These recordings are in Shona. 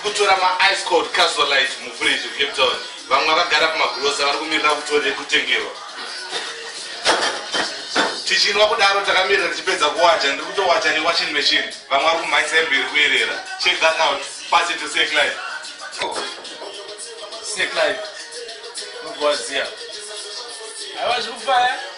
kutora maice code casual life muvillage cape town vamwe vakagara pamagrosa vari kumirira kutore kutengerwa tichinwa kudaro takamirira tichipedza kuwacha ndiri kutowacha newaching machine vamwe vari kumhanyisa emberi kuyerera check that out pass it to sec life sec life mugoziya aiwa zviri kufaya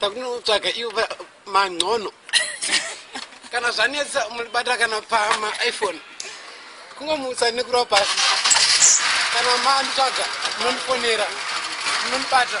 takunotsvaga ivo mancono kana zvanetsa mulibata kana pama iphone kungomutsa nekurwa pasi kana manitsvaga munonifonera munonibata